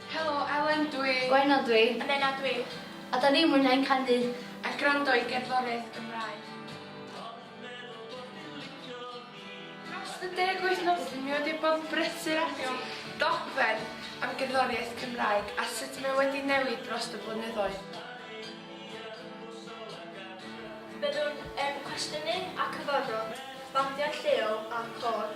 Helo, Elen dw i. Gwenno dw i. A Menna dw i. A da ni'n mwynhau'n canu a gwrando i gerddoriaeth Gymraeg. Dros y deg wythnos dw i wedi bod yn brysur ati dogfen am gerddoriaeth Cymraeg a sut mae wedi newid dros y blynyddoedd. Byddwn yn cwestiynu a cyfarfod bandiau lleol a'r côr.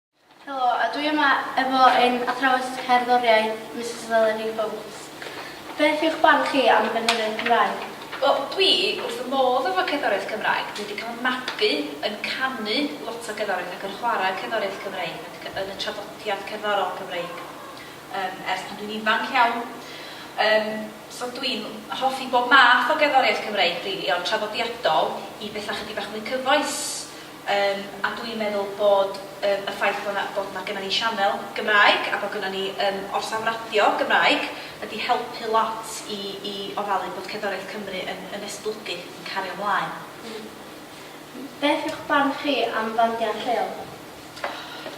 Helo, a dwi yma efo ein athrawes cerddoriaeth, Misus Eleni Foulds. Beth yw'ch barn chi am gerddoriaeth Cymraeg? Wel, dwi wrth fy modd efo cerddoriaeth Cymraeg. Dwi 'di cael fy magu yn canu lot o gerddoriaeth ac yn chwarae cerddoriaeth Cymreig ac yn y traddodiad cerddorol Gymreig yym ers pan dwi'n ifanc iawn. Yym, so dwi'n hoffi bob math o gerddoriaeth Cymreig rili, o'r traddodiadol i betha chydig bach mwy cyfoes. Yym, a dwi'n meddwl bod yym y ffaith bod 'na bod 'na gynna ni sianel Gymraeg a bod gynna ni yym orsaf radio Gymraeg wedi helpu lot i i ofalu bod cerddoriaeth Cymru yn yn esblygu, yn cario mlaen. Hmm. Beth yw'ch barn chi am fandiau lleol?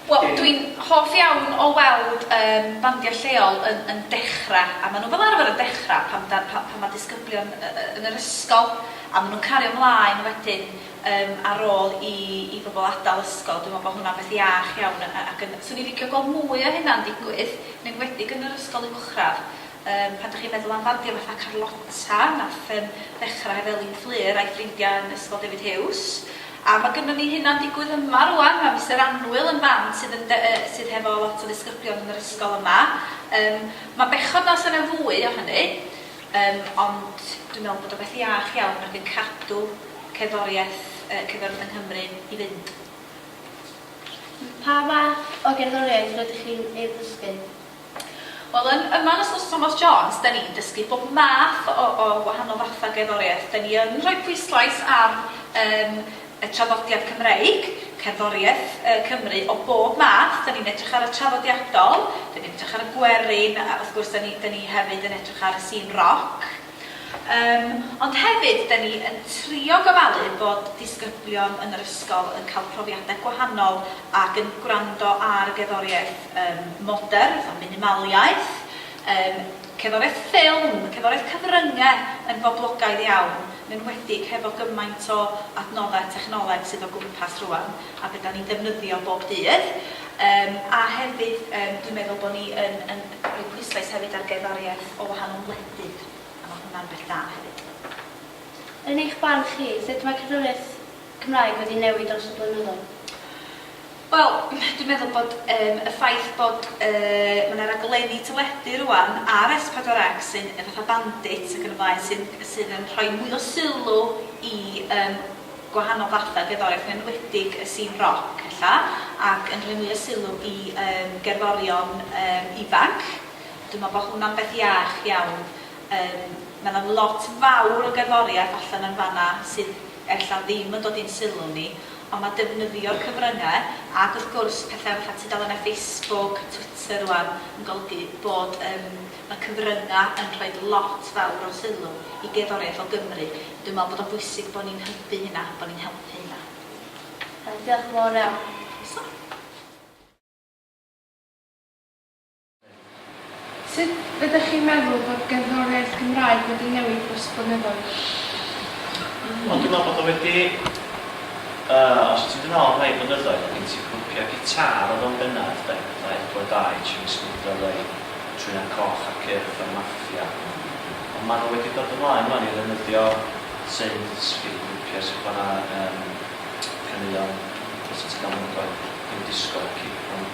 Wel, dwi'n hoff iawn o weld yym bandiau lleol yn yn dechra', a ma' nhw fel arfer yn dechra' pan da- pa- pan ma' disgyblion y- y- yn yr ysgol, a ma' nhw'n cario mlaen wedyn. yym ar ôl i i bobl adal ysgol dwi me'wl bo hwnna'n beth iach iawn yy ac yn swn i'n licio gweld mwy o hynna'n digwydd yn enwedig yn yr ysgol uwchradd yym pan dych chi'n meddwl am fandio fatha Carlotta nath yym ddechra heb Elin Fflur a'i ffrindia yn ysgol David Huws a ma gynnon ni hynna'n digwydd yma rŵan ma Mister Anwyl yn fam sydd yn de- yy sydd hefo lot o ddisgyblion yn yr ysgol yma yym ma'n bechod na o's yna fwy o hynny. Yym, ond dwi'n meddwl bod o'n beth iach iawn ac yn cadw cerddoriaeth yy cerddoriaeth yng Nghymru i fynd. Pa fath o gerddoriaeth rydych chi'n ei ddysgu? Wel yn yma yn Ysgol Sir Thomas Jones 'da ni'n dysgu bob math o o wahanol fathau gerddoriaeth. 'Da ni yn rhoi pwyslais ar yym Y traddodiad Cymreig, cerddoriaeth yy Cymru o bob math, 'dan ni'n edrych ar y traddodiadol, 'dan ni'n edrych ar y gwerin, a wrth gwrs 'dan ni 'dan ni hefyd yn edrych ar y sîn roc. Yym ond hefyd 'dan ni yn trio gofalu bod disgyblion yn yr ysgol yn ca'l profiade gwahanol ac yn gwrando ar gerddoriaeth yym modern, fatha minimaliaeth, yym. Cerddoriaeth ffilm, cerddoriaeth cyfrynge yn boblogaidd iawn, yn enwedig hefo gymaint o adnoddau technoleg sydd o gwmpas rwan, a be 'dan ni'n defnyddio bob dydd. Yym a hefyd yym dwi'n meddwl bo' ni yn yn rhoi pwyslais hefyd ar gerddoriaeth o wahanol wledydd, a ma' hwnna'n beth da hefyd. Yn eich barn chi, sut mae cerddoriaeth Cymraeg wedi newid dros y blynyddoedd? Wel, dwi'n meddwl bod yym y ffaith bod yy ma' 'na raglenni teledu rŵan ar Ess Pedwar Ec sy'n yy fatha Bandit ac yn y blaen sy'n sydd yn rhoi mwy o sylw i yym gwahanol fathau o gerddoriaeth yn enwedig y sîn roc ella ac yn rhoi mwy o sylw i yym gerddorion yym ifanc. Dwi'n meddwl bod hwnna'n beth iach iawn. Yym ma' 'na lot fawr o gerddoriaeth allan yn fan'na sydd ella ddim yn dod i'n sylw ni, ond mae defnyddio'r cyfryngau, ac wrth gwrs pethau fatha tudalennau Facebook, Twitter rŵan, yn golygu bod yym y cyfryngau yn rhoi lot fawr o sylw i gerddoriaeth o Gymru. Dwi'n meddwl bod o'n bwysig bod ni'n hybu hynna, bod ni'n helpu hynna. Iawn, diolch yn fawr iawn. Croeso. Sut ydych chi'n meddwl bod gerddoriaeth Gymraeg wedi newid dros y blynyddoedd? Wel dwi'n meddwl bod o wedi, yy, os ti'n dod nôl rhai blynyddoedd oedd gen ti grwpiau gitâr oedd o'n bennaf de, fatha Edward Dau, Jimmy Smith LA, Trynan Coch a'r Cyrff a'r Maffia. Ond maen nhw wedi dod ymlaen ŵan i ddefnyddio synths i grwpiau sy'n chwarae yym caneuon, os ti'n galw nhw'n ddoe, New Disco, Cipron.